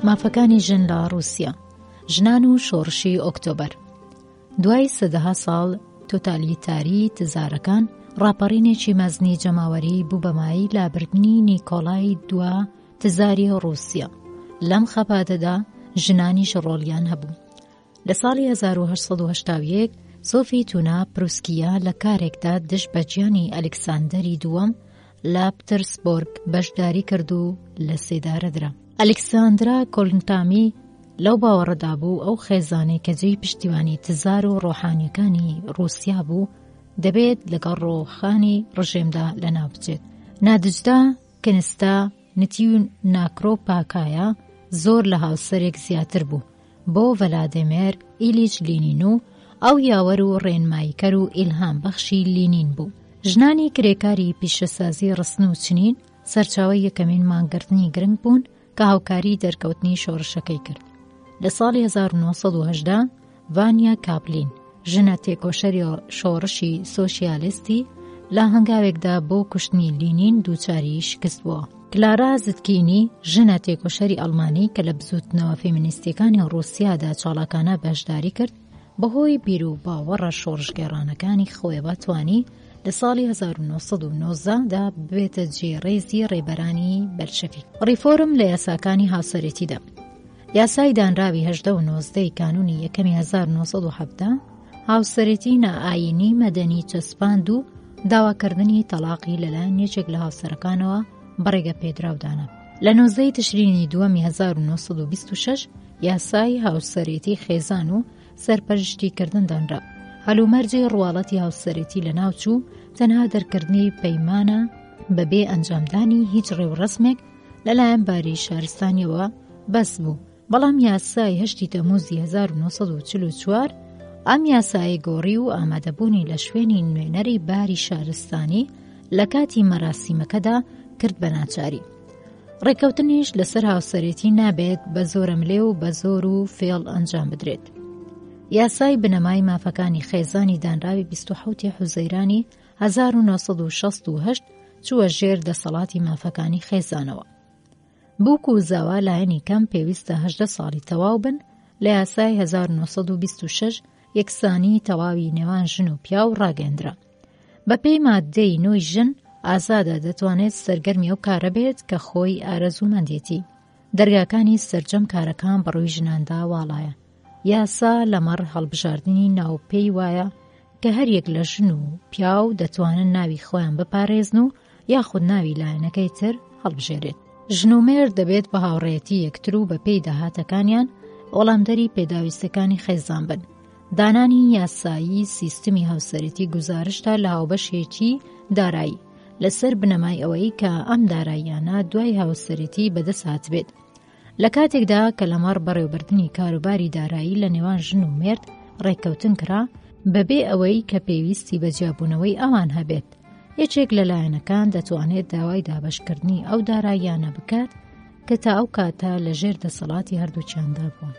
مافەکانی ژن لە ڕووسیا ژنان و شۆڕشی ئۆکتۆبەر دوای سەدەها ساڵ تۆتالیتاری تزارەکان ڕاپەڕینێکی مەزنی جەماوەری بوو بەمایی لابردنی نیکۆڵای دوا تزاری ڕووسیا لەم خەباتەدا ژنانیش ڕۆڵیان هەبوو لە ساڵی هەزار و هەشت سەد و هەشتا و یەک سۆفی تونا پروسکییە لە کارێکدا دژ بە گیانی ئەلیکساندەری دووەم لە پترسبۆرگ بەشداری کرد و لە سێدارە درا. ئەلیکساندرا کۆلنتامی لەو باوەڕەدا بوو ئەو خێزانەی کە جێی پشتیوانی تزار و ڕۆحانیەکانی ڕووسیا بوو دەبێت لەگەڵ ڕۆخانی ڕژێمدا لەناو بچێت. نادجدا کنستا نتی و ناکرۆ پاکایا زۆر لە هاوسەرێک زیاتر بوو بۆ ڤەلادێمێر ئیلیچ لینین و ئەو یاوەر و ڕێنماییکەر و ئیلهام بەخشی لینین بوو ژنانی کرێکاری پیشەسازی ڕسن و چنین سەرچاوەی یەکەمین مانگرتنی گرنگ بوون کە هاوکاریی دەرکەوتنی شۆڕشەکەی کرد. لە ساڵی هەزار و نۆ سەد و هەژدە ڤانیا کاپلین، ژنە تێکۆشەری شۆڕشی سۆسیالیستی، لە هەنگاوێکدا بۆ کوشتنی لینین دووچاری شکست بووە. کلارا زتکینی، ژنە تێکۆشەری ئەڵمانی کە لە بزووتنەوە فێمینیستییەکانی ڕووسیادا چاڵاکانە بەشداری کرد، بەهۆی بیروباوەڕە شۆڕشگێڕانەکانی خۆیەوە توانی لە ساڵی هەزار و نۆ سەد و نۆزدە دا ببێتە جێی ڕێزی ڕێبەرانی بەلشەفیک. ڕیفۆرم لە یاساکانی هاوسەرێتیدا یاسای دانراوی هەژدە و نۆزدەی کانوونی یەکەمی هەزار و نۆ سەد و حەڤدە هاوسەرێتی نائایینی مەدەنی چەسپاند و داواکردنی تەڵاقی لەلایەن یەکێک لە هاوسەرەکانەوە بە ڕێگەپێدراو دانا. لە نۆزدەی تشرینی دووەمی هەزار و نۆ سەد و بیست و شەش یاسای هاوسەرێتی خێزان و سەرپەرشتی کردن دانرا هەلومەرجی ڕواڵەتی هاوسەرێتی لە ناوچوو تەنها دەرکردنی پەیمانە بەبێ ئەنجامدانی هیچ ڕێوڕسمێک لەلایەن باری شارستانیەوە بەس بوو بەڵام یاسای هەشتی تەموزی 1940 ئەم یاسایی گۆڕی و ئامادەبوونی لە شوێنی نوێنەری باری شارستانی لە کاتی مەراسیمەکەدا کرد بە ناچاری ڕێکەوتنیش لەسەر هاوسەرێتی نابێت بە زۆرەملێ و بە زۆر و فێڵ ئەنجام بدرێت یاسای بنەمای مافەکانی خێزانی دانراوی 1970 حوزەیرانی 1968 چووە ژێر دەسەڵاتی مافەکانی خێزانەوە بووک و زاوا لایەنی کەم پێویستە هەدە ساڵی تەواو بن لە یاسای 1926 یەکسانی تەواوی نێوان ژن و پیاو ڕاگەندرا بەپێی ماددەی نۆی ژن ئازادە دەتوانێت سەرگەرمی ئەو کارە بێت کە خۆی ئارەزوومەندێتی دەرگاکانی سرجەم کارەکان بەڕووی ژناندا واڵایە یاسا لەمەڕ هەڵبژاردننی ناو پێی وایە کە هەریەک لە ژن و پیاو دەتوانن ناوی خۆیان بپارێزن و یاخود ناوی لایەنەکەی تر هەڵبژێرێت. ژن و مێرد دەبێت بە هاوڕێتی یەکتر و بە پێی داهاتەکانیان وەڵامدەری پێداویستەکانی خێزان بن. دانانی یاسایی سیستمی هاوسەرەتی گوزارشتە لە هاوبەشێتی دارایی لەسەر بنەمای ئەوەی کە ئەم داراییانە دوای هاوسەرەتی بەدەست هاتبێت لە کاتێکدا کە لەمەڕ بەڕێوبردنی کاروباری دارایی لە نێوان ژن و مێرد ڕێککەوتن کرا بەبێ ئەوەی کە پێویستی بە جیابوونەوەی ئەوان هەبێت یەکێک لە لایەنەکان دەتوانێت داوای دابشکردنی ئەو داراییانە بکات کە تا ئەو کاتە لە ژێر دەسەڵاتی هەردووچیاندا بووە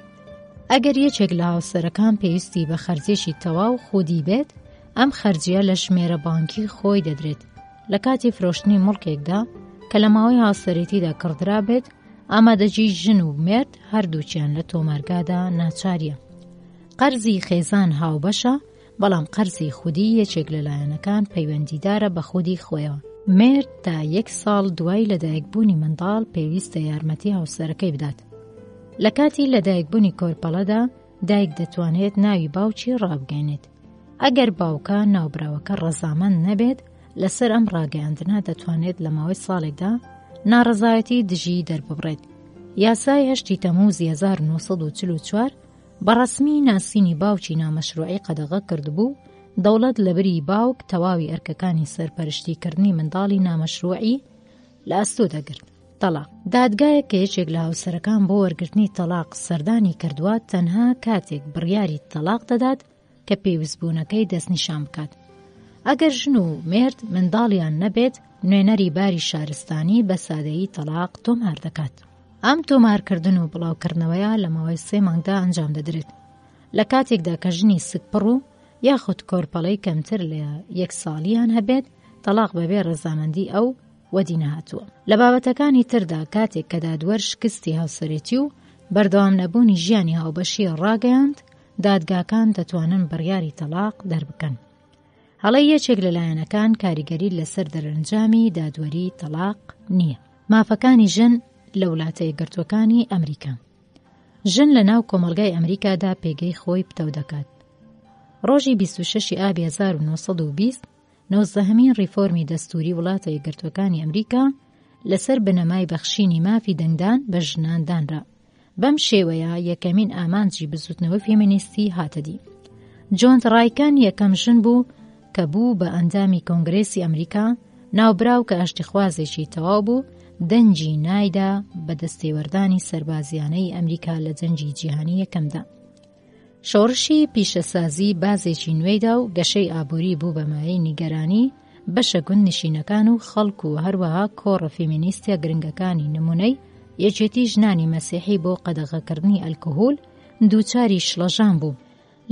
ئەگەر یەکێک لە هاوسەرەکان پێویستی بە خەرجێکی تەواو خودی بێت ئەم خەرجیە لە ژمێرە بانکی خۆی دەدرێت لە کاتی فرۆشتنی مڵکێکدا کە لە ماوەی هاوسەرێتیدا کڕدرابێت ئامادەجی ژن و مێرد هەردووکیان لە تۆمارگادا ناچاریە. قەرزی خێزان هاوبەشە بەڵام قەرزی خودی یەکێک لە لایەنەکان پەیوەندیدارە بە خودی خۆیەوە. مێرد تا یەک ساڵ دوای لەدایکبوونی منداڵ پێویستە یارمەتی هاوسەرەکەی بدات. لە کاتی لەدایکبوونی کۆرپەڵەدا دایک دەتوانێت ناوی باوکی ڕابگەێنێت ئەگەر باوکە ناوبراوەکە ڕەزامەند نەبێت لەسەر ئەم ڕاگەیاندنە دەتوانێت لە ماوەی ساڵێکدا ناڕزایەتی دژی دەرببڕێت یاسای هەشتی تەموز 1940 بەڕسمی ناسینی باوکی نامەشروعی قەدەغە کردبوو دەوڵەت لەبری باوک تەواوی ئەرکەکانی سەرپەرشتیکردنی منداڵی نامەشروعی لە ئەستۆ دەگرت. تەڵاق، دادگایەک کە یەکێک لە هاوسەرەکان بۆ وەرگرتنی تەڵاق سەردانی کردووە تەنها کاتێک بڕیاری تەڵاق دەدات کە پێویستبوونەکەی دەستنیشان بکات. ئەگەر ژن و مێرد منداڵیان نەبێت، نوێنەری باری شارستانی بە سادەیی تەڵاق تۆمار دەکات. ئەم تۆمارکردن و بڵاوکردنەوەیە لە ماوەی سێ مانگدا ئەنجام دەدرێت لە کاتێکدا کە ژنی سکپڕ و یاخود کۆرپەڵەی کەمتر لە یەک ساڵیان هەبێت تەڵاق بەبێ ڕەزامەندی ئەو وەدی نەهاتووە لە بابەتەکانی تردا کاتێک کە دادوەر شکستی هاوسەرێتی و بەردەوام نەبوونی ژیانی هاوبەشی ڕاگەیاند دادگاکان دەتوانن بڕیاری تەلاق دەربکەن هەڵی یەکێک لە لایەنەکان کاریگەری لەسەر دەرەنجامی دادوەری تەلاق نییە مافەکانی ژن لە وڵاتەیە گرتوەکانی ئەمریکا ژن لە ناو کۆمەلگای ئەمریکادا پێگەی خۆی پتەو دەکات ڕۆژی 26 ئابی 1920 نۆزدەهەمین ڕیفۆرمی دەستووری وڵاتە یەکگرتووەکانی ئەمریکا لەسەر بنەمای بەخشینی مافی دەنگدان بە ژنان دانرا. بەم شێوەیە یەکەمین ئامانجی بزووتنەوەی فێمینیستی هاتە دی. جۆنت ڕایکەن یەکەم ژن بوو کە بوو بە ئەندامی کۆنگرێسی ئەمریکا ناوبراو کە ئاشتیخوازێکی تەواو بوو دەنگی نایدا بە دەستێوەردانی سەربازیانەی ئەمریکا لە جەنگی جیهانی یەکەمدا شۆڕشی پیشەسازی بازێکی نوێی دا و گەشەی ئابووری بوو بە مایەی نیگەرانی بەشە گوندنشینەکان و خەڵک و هەروەها کۆڕە فێمینیستە گرنگەکانی نموونەی یەکێتی ژنانی مەسیحی بۆ قەدەغەکردنی ئەلکهول دووچاری شڵەژان بوو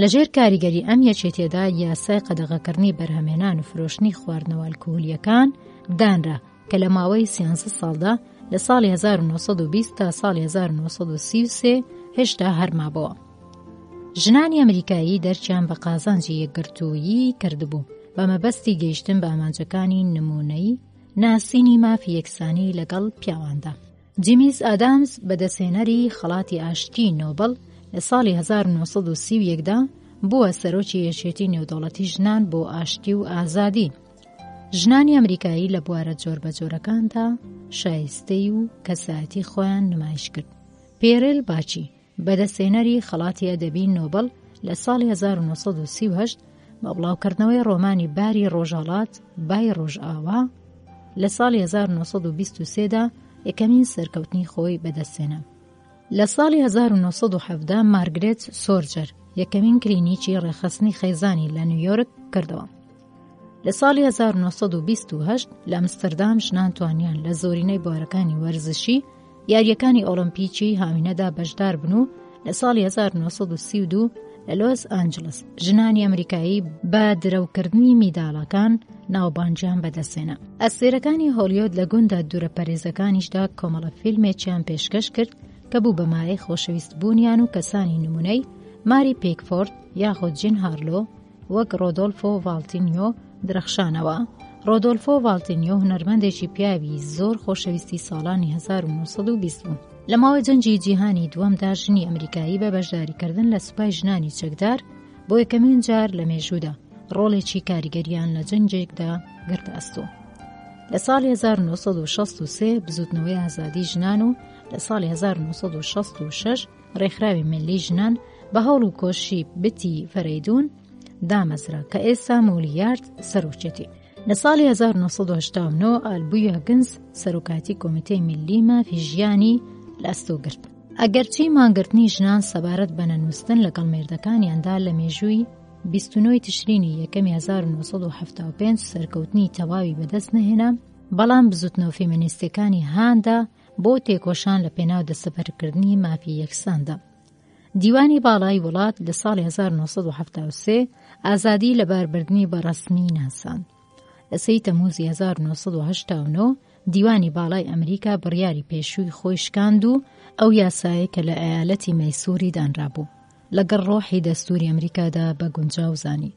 لەژێر کاریگەری ئەم یەکێتیەدا یاسای قەدەغەکردنی بەرهەمێنان و فرۆشتنی خواردنەوە ئەلکهولیەکان دانرا کە لە ماوەی سیانزە ساڵدا لە ساڵی 1920 تا ساڵی 1933 هێشتا هەرمابەوە. ژنانی ئەمریکایی دەرچیان بە قازانجی یەکگرتوویی کردبوو بە مەبەستی گەیشتن بە ئامانجەکانی نمونەی ناسینی مافی یەکسانی لەگەڵ پیاواندا. جیمیز ئادامز بەدەستهێنەری خەڵاتی ئاشتی نۆبل لە ساڵی 1930دا بووە سەرۆکی یەکێتی نێودەوڵەتی ژنان بۆ ئاشتی و ئازادی ژنانی ئەمریکایی لە بوارە جۆربەجۆرەکاندا شایستەی و کەسایەتی خۆیان نمایش کرد پێرل باچی بەدەستێنەری خەڵاتی ئەدەبی نۆبل لە ساڵی 1938 بە بڵاوکردنەوەی ڕۆمانی باری ڕۆژهڵات بای ڕۆژئاوا لە ساڵی 1923دا یەکەمین سەرکەوتنی خۆی بەدەستێنە لە ساڵی 1970 مارگرێت سۆرجەر یەکەمین کلینیکی ڕێخستنی خەیزانی لە نیویۆرک کردەوە لە ساڵی هەزار و نۆ سەد و بیست و هەشت لە ئەمستردام ژنان توانیان لە زۆرینەی بوارەکانی وەرزشی یارییەکانی ئۆڵۆمپیکی هاوینەدا بەشدار بن و لە ساڵی 1932 لە لۆس ئانجلس ژنانی ئەمریکایی بە درەوکردنی میداڵەکان ناوبانجیان بەدەستێنە ئەسێرەکانی هۆلیۆد لە گوندا دوورە پەرێزەکانیشدا کۆمەڵە فیلمێکیان پێشکەش کرد کە بوو بەمایە خۆشەویست بوونیان و کەسانی نمونەی ماری پێکفۆرد یاخۆ جین هارلۆ وەک ڕۆدۆلفۆ ڤالتینیۆ درەخشانەوە. ڕۆدۆلفۆ ڤالتینیۆ هونەرمەندێکی پیاوی زۆر خۆشەویستی ساڵانی 1920 بوو. لە ماوەی جەنگی جیهانی دووەمدا ژنی ئەمریکایی بە بەشداریکردن لە سوپای ژنانی چەکدار بۆ یەکەمین جار لە مێژوودا ڕۆڵێکی کاریگەریان لە جەنگێکدا گرتە ئەستۆ. لە ساڵی 1963 بزوتنەوەی ئازادی ژنان و لە ساڵی 1966 ڕێکخراوی ملی ژنان بە هەوڵ و کۆششی بتی فەرەیدون دامەزرا کە ئێستا مولیارد سەرۆکێتی. لە ساڵی 1970 ئالبویە گنز سەرۆکاتی کۆمیتەی ملی مافی ژیانی لە ئەستۆ گرت. ئەگەرچی مانگرتنی ژنان سەبارەت بە نەنووسن لەگەڵ مێردەکانیاندا لە مێژووی 29 تشرینی یەکەمی 1975 سەرکەوتنی تەواوی بەدەست نەهێنا، بەڵام بزوتنەوە فێمینیستەکانی هاندا بۆ تێکۆشان لە پێناو دەستەبەرکردنی مافی یەکساندا. دیوانی باڵای وڵات لە ساڵی 1970 ئازادی لە باربردنی بەڕسمی ناسان. لە سی تەموزی 1970 دیوانی باڵای ئەمریکا بڕیاری پێشووی خۆی شکاند و ئەو یاسایە کە لە ئەیالەتی مەیسوری دانرابوو لەگەڵ ڕۆحی دەستوری ئەمریکادا بە گونجاو زانی.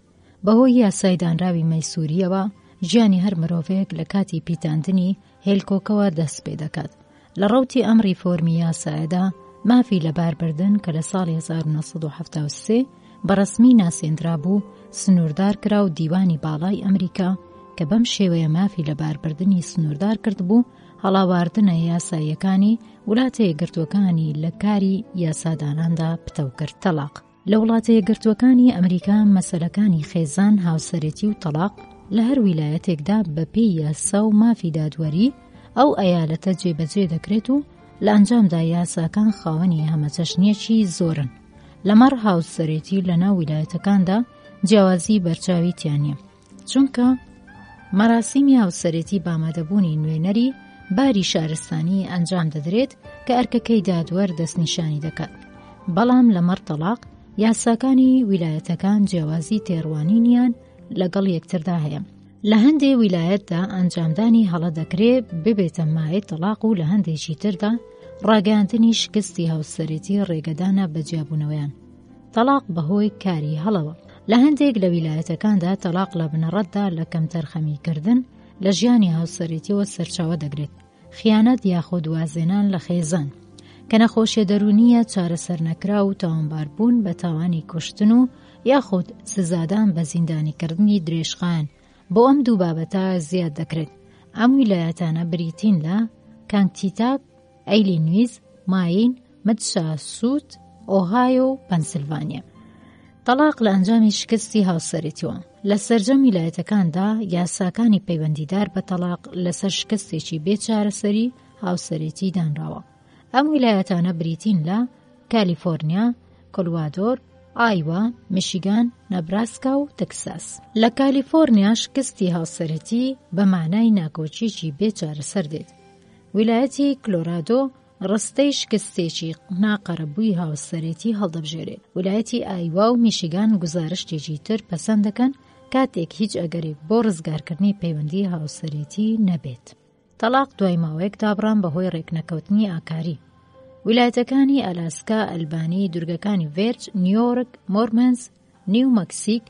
بەهۆی یاسای دانراوی مەیسورییەوە ژیانی هەر مرۆڤێک لە کاتی پیتاندنی هێلکۆکەوە دەست پێ دەکات لە ڕوتی ئەم ڕیفۆرمی یاسایەدا مافی لەباربردن کە لە ساڵی 1970 بەڕسمی ناسێندرا بوو سنووردار کرا و دیوانی باڵای ئەمریکا کە بەم شێوەیە مافی لەباربردنی سنووردار کرد بوو هەڵاواردنە یاساییەکانی ولاتی گرتوەکانی لە کاری یاساداناندا پتەو کرد تەلاق لە وڵاتە یەکگرتووەکانی ئەمریکا مەسەلەکانی خێزان، هاوسەرێتی و تەڵاق لە هەر ویلایەتێکدا بە پێی یاسا و مافی دادوەری ئەو ئەیالەتە جێبەجێ دەکرێت و لە ئەنجامدا یاساکان خاوەنی هەمەچەشنیەکی زۆرن لەمەڕ هاوسەرێتی لە ناو ویلایەتەکاندا جیاوازی بەرچاوی تیانە چونکە مەراسیمی هاوسەرێتی بامادەبوونی نوێنەری باری شارستانی ئەنجام دەدرێت کە ئەرکەکەی دادوەر دەستنیشانی دەکات بەڵام لەمەڕ تەلاق یاساکانی ویلایەتەکان جیاوازی تێڕوانینیان لەگەڵ یەکتردا هەیە لە هەندێ ویلایەتدا ئەنجامدانی هەڵە دەکرێ ببێتە مایە تەلاق و لە هەندێکی تردا ڕاگەاندنی شکستی هاوسەرێتی ڕێگەدانە بە جیابوونەوەیان تەڵاق بەهۆی کاری هەڵەوە. لە هەندێک لە ویلایەتەکاندا تەڵاق لە بنەڕەتدا لە کەمتەرخەمیکردن لە ژیانی هاوسەرێتیەوە سەرچاوە دەگرێت، خیانەت یاخود وازهێنان لە خێزان، کە نەخۆشیە دەروونییە چارەسەرنەکراو و تاوانباربوون بە تاوانی کوشتن و یاخود سزادان بە زیندانیکردنی درێژخایەن، بۆ ئەم دوو بابەتە زیاد دەکرێت. ئەم ویلایەتانە بریتین لە، کانگتیتاک، ئەیلینویز، ماین، مدساسوت، ئۆهایۆ و پەنسلڤانیا. تەڵاق لە ئەنجامی شکستی هاوسەرێتیوە. لە سەرجەم ویلایەتەکاندا یاساکانی پەیوەندیدار بە تەڵاق لەسەر شکستێکی بێ چارەسەری هاوسەرێتی دانراوە. ئەم ویلایەتانە بریتین لە کالیفۆرنیا، کلوادۆر، ئایوا، میشیگان، نەبراسکا و تەکساس. لە کالیفۆرنیا شکستی هاوسەرێتی بە مانای ناکۆکیەکی بێ چارەسەر دێت. ویلایەتی کلۆرادۆ ڕستەی شکستێکی ناقەرەبووی هاوسەرێتی هەڵدەبژێرێت ولایەتی ئایوا و میشیگان گوزارشتێکی تر پەسەند دەکەن کاتێک هیچ ئەگەرێک بۆ ڕزگارکردنی پەیوەندی هاوسەرێتی نەبێت تەلاق دوای ماوەیەک دابڕان بەهۆی ڕێکنەکەوتنی ئاکاری ولایەتەکانی ئەلاسکا ئەلبانی دورگەکانی ڤێرج نیۆرک مۆرمنز نیو مەکسیک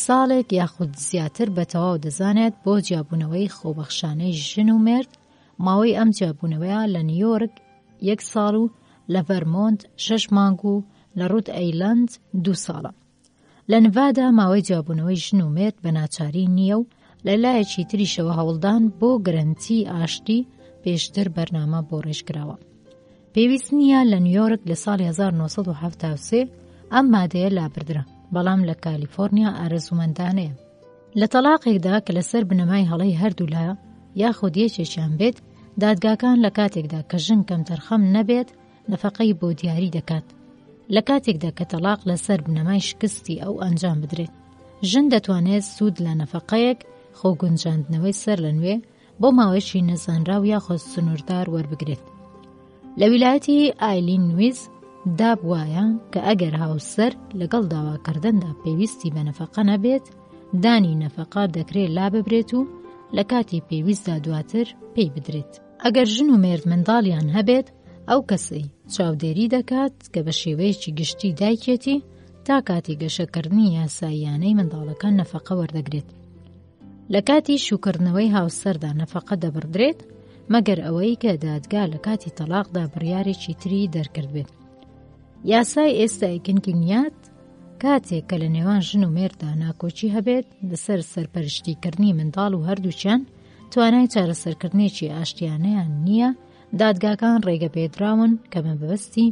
ساڵێک یاخود زیاتر بە تەواو دەزانێت بۆ جیابوونەوەی خۆبەخشانەی ژن و مرد ماوەی ئەم جیابوونەوەیە لە نیویۆرک یەک ساڵ و لە ڤەرمۆنت شەش مانگ و لە ڕوت ئەیلەند دوو ساڵە. لە نڤادا ماوەی جیابوونەوەی ژن و مێرد بە ناچاری نییە و لە لایەکی تریشەوە هەوڵدان بۆ گرەنتی ئاشتی پێشتر بەرنامە بۆ ڕێژکراوە. پێویست نییە لە نیویۆرک لە ساڵی 1970 ئەم مادەیە لابردرا بەڵام لە کالیفۆرنیا ئارەزومەندانەیە لە تەلاقێکدا کە لەسەر بنەمای هەڵی هەردوولا یاخود یەکێکیان بێت دادگاکان لە کاتێکدا کە ژن کەم تەرخەم نەبێت نەفقەی بۆ دیاری دەکات لە کاتێکدا کە تەلاق لەسەر بنەمای شکستی ئەو ئەنجام بدرێت ژن دەتوانێت سوود لە نەفقەیەک خۆ گونجاندنەوەی سەر لە نوێ بۆ ماوەیەکی نەزانراو یاخۆز سنووردار وەربگرێت لە ویلایەتی ئایلین ویز داب وایە کە ئەگەر هاوسەر لەگەڵ داواکردندا پێویستی بە نەفەقە نەبێت دانی نەفەقا دەکرێت لا ببرێت و لە کاتی پێویستدا دواتر پێی بدرێت ئەگەر ژن و مێرد منداڵیان هەبێت ئەو کەسەی چاودێری دەکات کە بە شێوەیەکی گشتی دایکێتی تا کاتی گەشەکردنی یاساییانەی منداڵەکان نەفەقە وەردەگرێت لە کاتی شوکردنەوەی هاوسەردا نەفەقە دەبڕدرێت مەگەر ئەوەی کە دادگا لە کاتی تەلاقدا بڕیارێکی تری دەرکردبێت یاسای ئێستای کنکینیات کاتێک کە لە نێوان ژن و مێردا ناکۆچی هەبێت لەسەر سەرپەرشتیکردنی منداڵ و هەردووچیان توانای چارەسەرکردنێکی ئاشتیانەیان نییە دادگاکان ڕێگە پێدراون کە مەبەستی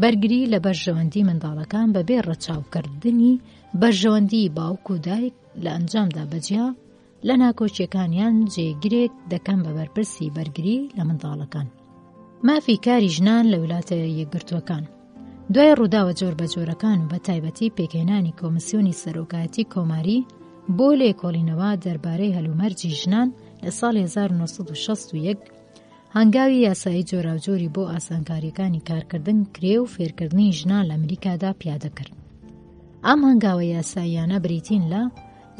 بەرگری لە بەرژەوەندی منداڵەکان بەبێ ڕەچاوکردنی بەرژەوەندی باوک و دایک لە ئەنجامدا بەجیا لە ناکۆکیەکانیان جێگرێک دەکەم بە بەرپرسی بەرگری لە منداڵەکان مافی کاری ژنان لە ویلاتە یەکگرتووەکان دوای ڕووداوە جۆر بە جۆرەکان و بە تایبەتی پێکهێنانی کۆمسیۆنی سەرۆکایەتی کۆماری بۆ لێکۆڵینەوە دەربارەی هەلومەرجی ژنان لە ساڵ 1960 هەنگاوی یاسایی جۆراوجۆری بۆ ئاسانکاریەکانی کارکردن کرێ و فێرکردنی ژنان لە ئەمریکادا پیادە کرد ئەم هەنگاوە یاساییانە بریتین لە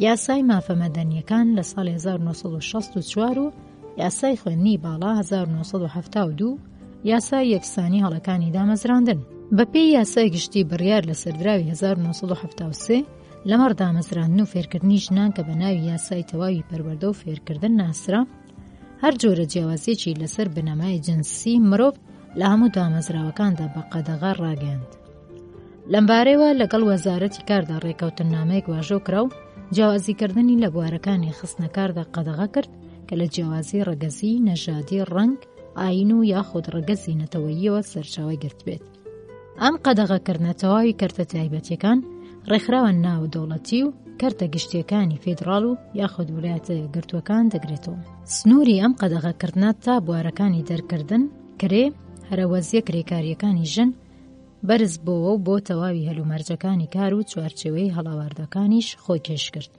یاسای مافە مەدەنیەکان لە ساڵ 1964 و یاسای خوێندنی باڵا 1972 یاسای یەکسانی هەڵەکانی دامەزراندن بەپێی یاسای گشتی بڕیار لە سەردراوی 1970 لەمەڕ دامەزراندن و فێرکردنی ژنان کە بە ناوی یاسای تەواوی پەروەردە و فێرکردن ناسرا هەر جۆرە جیاوازیەکی لەسەر بنەمای جنسی مرۆڤ لە هەموو دامەزراوەکاندا بە قەدەغە ڕاگەیاند لەمبارەیەوە لەگەڵ وەزارەتی کاردا ڕێکەوتن نامەیەک واژۆ کرا و جیاوازیکردنی لە بوارەکانی خستنەکاردا قەدەغە کرد کە لە جیاوازی ڕەگەزی نەژادی ڕنگ ئاین و یاخود ڕەگەزی نەتەوەییەوە سەرچاوی گرتبێت ئەم قەدەغەکردنە تەواوی کەرتە تایبەتیەکان ڕێکخراوە ناوەدەوڵەتی و کەرتە گشتیەکانی فیدراڵ و یاخود ویلایەتە گرتووەکان دەگرێتەوە سنووری ئەم قەدەغەکردە تا بوارەکانی دەرکردن کرێ هەرەوەزیە کرێکاریەکانی ژن بەرز بۆەوە و بۆ تەواوی هەلومەرجەکانی کار و چوارچێوەی هەڵاواردەکانیش خۆی کێش کرد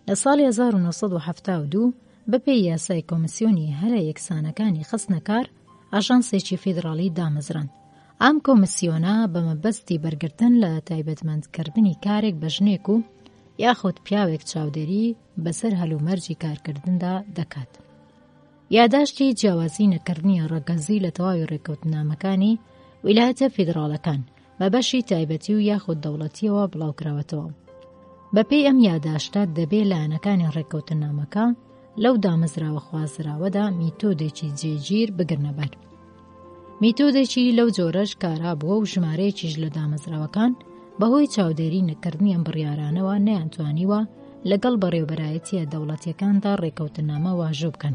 لە ساڵی 1970 بەپێی یاسای کۆمسیۆنی هەرە یەکسانەکانی خستنەکار ئاژانسێکی فیدراڵی دامەزراند. ئەم کۆمسیۆنە بە مەبەستی بەرگرتن لە تایبەتمەندکردنی کارێک بە ژنێک و یاخود پیاوێک چاودێری بەسەر هەلومەرجی کارکردندا دەکات. یاداشتی جیاوازی نەکردنی ڕەگەزی لە تەواوی ڕێککەوتنامەکانی ویلایەتە فیدراڵەکان بە بەشی تایبەتی و یاخود دەوڵەتیەوە بڵاوکراوەتەوە بەپێی ئەم یاداشتە دەبێ لایەنەکانی ڕێککەوتنامەکە لەو دامەزراوە خوازراوەدا میتۆدێکی جێگیر بگرنەبەر میتۆدێکی لەو جۆرەش کارا بووە و ژمارەیەکیش لە دامەزراوەکان بەهۆی چاودێری نەکردنی ئەم بڕیارانەوە نەیانتوانیوە لەگەڵ بەڕێوبەرایەتیە دەوڵەتیەکاندا ڕێکەوتنامە واژوو بکەن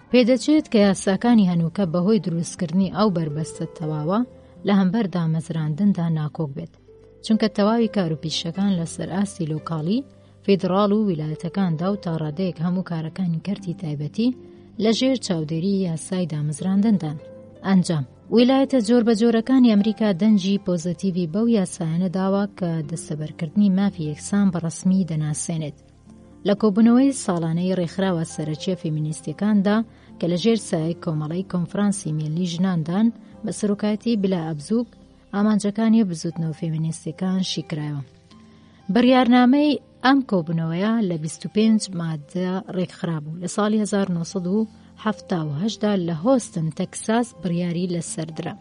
پێدەچێت کە یاساکانی هەنووکە بەهۆی دروستکردنی ئەو بەربەستە تەواوە لە هەمبەر دامەزراندندا ناکۆک بێت چونکە تەواوی کاروپیشەکان لەسەر ئاستی لۆکاڵی فیدراڵ و ویلایەتەکاندا و تاڕادەیەک هەموو کارەکانی کەرتی تایبەتی لە ژێر چاودێری یاسای دامەزراندندان ئەنجام ویلایەتە جۆر بە جۆرەکانی ئەمریکا دەنجی پۆزەتیڤی بەو یاسایانە داوە کە دەستەبەرکردنی مافی یەکسان بە ڕسمی دەناسێنێت لە کۆبوونەوەی ساڵانەی ڕێکخراوە سەرەکییە فێمینیستییەکاندا کە لە ژێر سایەی کۆمەڵەی کۆنفرانسی میللی ژناندان بە سەرۆکایەتی بلا ئەبزووک ئامانجەکانی بزوتنەوە فێمینیستیەکان شیکرایەوە. بڕیارنامەی ئەم کۆبوونەوەیە لە 25 مادە ڕێکخرابوو لە ساڵی 1970دا لە هۆستن تەکساس بڕیاری لەسەردرا.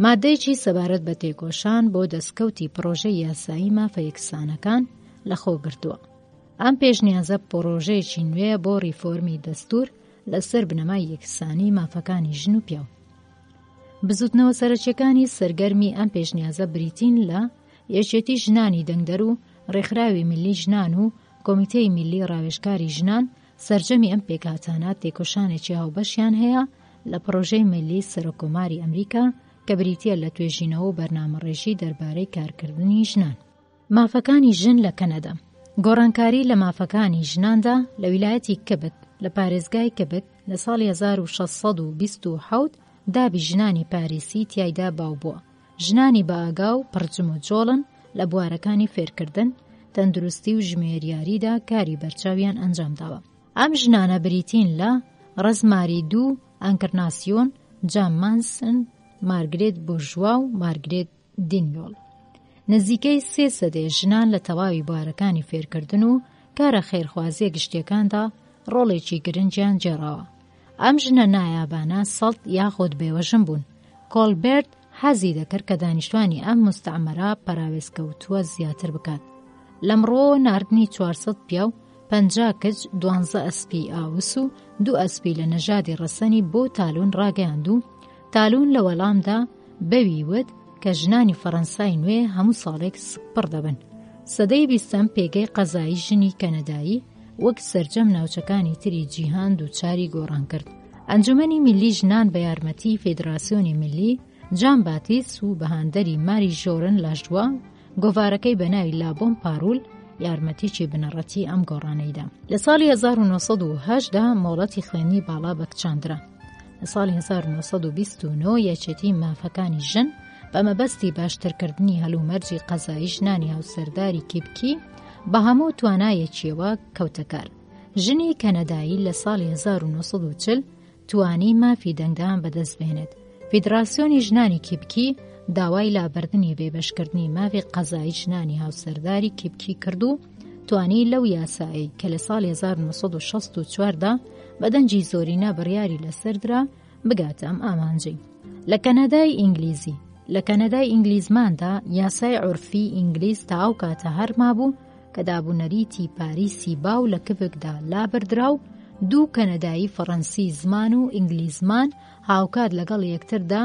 ماددەیەکی سەبارەت بە تێکۆشان بۆ دەستکەوتی پڕۆژەی یاسایی مافە یەکسانەکان لەخۆگرتووە. ئەم پێشنیازە پڕۆژەیەکی نوێیە بۆ ڕیفۆرمی دەستور لەسەر بنەمای یەکسانی مافەکانی ژن و پیاو. بزوتنەوە سەرەکیەکانی سەرگەرمی ئەم پێشنیازە بریتین لە یەکێتی ژنانی دەنگدەر و ڕێکخراوی ملی ژنان و کۆمیتەی ملی ڕاوێژکاری ژنان سەرجەمی ئەم پێکهاتانە تێکۆشانێکی هاوبەشیان هەیە لە پڕۆژەی ملی سەرۆککۆماری ئەمریکا کە بریتییە لە توێژینەوە و بەرنامەڕێژی دەربارەی کارکردنی ژنان. مافەکانی ژن لە کەنەدا گۆڕانکاری لە مافەکانی ژناندا لە ویلایەتی کبک لە پارێزگای کبک لە ساڵی 1627 دابی ژنانی پاریسی تیایدا باو بووە ژنانی بەئاگا و پڕ جموجۆڵن لە بوارەکانی فێرکردن، تەندروستی و ژمێریاریدا کاری بەرچاویان ئەنجام داوە. ئەم ژنانە بریتین لە، ڕزماری دوو، ئەنکرناسیۆن، جام مانسن، مارگرێت بورژوا و مارگرێت دینیۆل. نزیکەی سێ سەدەیە ژنان لە تەواوی بوارەکانی فێرکردن و کارە خێرخوازییە گشتییەکاندا ڕۆڵێکی گرنگیان گێڕاوە. ئەم ژنە نایابانە سەڵت یاخود بێوەژن بوون. کۆڵبێرت حەزی دەکرد کە دانیشتوانی ئەم مستعمەرە پەراوێزکەوتووە زیاتر بکات. لەم ڕوەوە ناردنی 400 پیاو، پەنجا کچ، دوانزە ئەسپی ئاوس و دوو ئەسپی لە نەژادی ڕەسەنی بۆ تالون ڕاگەیاند و، تالون لە وەڵامدا بەوی وت کە ژنانی فەڕەنسای نوێ هەموو ساڵێک سپڕ دەبن سەدەی بیستەم پێگەی قەزایی ژنی کەنەدایی وەک سرجەم ناوچەکانی تری جیهان دووچاری گۆڕان کرد ئەنجومەنی ملی ژنان بە یارمەتی فیدراسیۆنی ملی جان باتیس و بەهاندەری ماری ژۆرن لەشدووە گۆڤارەکەی بە ناوی لابۆم پاروول یارمەتیی بنەڕەتی ئەم گۆڕانەی دا. لە ساڵی 1970 دا مۆڵەتی خوێندنی باڵا بە کچان درا. لە ساڵی 1929 یەکێتی مافەکانی ژن بە مەبەستی باشترکردنی هەلومەرجی قەزایی ژنانی هاوسەرداری کیبکی بە هەموو توانایەکیەوە کەوتەکار. ژنی کەنەدایی لە ساڵی 1940 توانی مافی دەنگدان بەدەست بێنێت. فیدراسیۆنی ژنانی کیپکی داوای لابردنی بێبەشکردنی مافی قەزایی ژنانی هاوسەرداری کیپکی کرد و توانی لەو یاسایی کە لە ساڵ 1964دا بە دەنگی زۆرینە بڕیاری لەسەردرا بگاتە ئەم ئامانجی لە کەنەدای ئینگلیزی لە کەنەدای ئینگلیزماندا یاسای عورفی ئینگلیز تا ئەو کاتە هەرمابوو کە دابونەریتی پاریسی باو لە کڤکدا لابردرا و دوو کەنەدایی فەڕەنسی زمان و ئینگلیزمان هاوکات لەگەڵ یەکتردا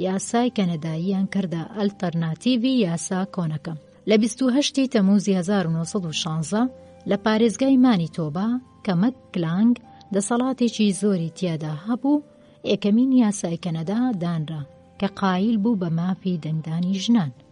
یاسای کەنەداییان کردە ئەلتەرناتیڤی یاسا کۆنەکە لە 28 تەموزی 1916 لە پارێزگای مانی تۆبا کە مەک کلانگ دەسەڵاتێکی زۆری تیادا هەبوو ئێکەمین یاسای کەنەدا دانرا کە قایل بوو بە مافی دەنگدانی ژنان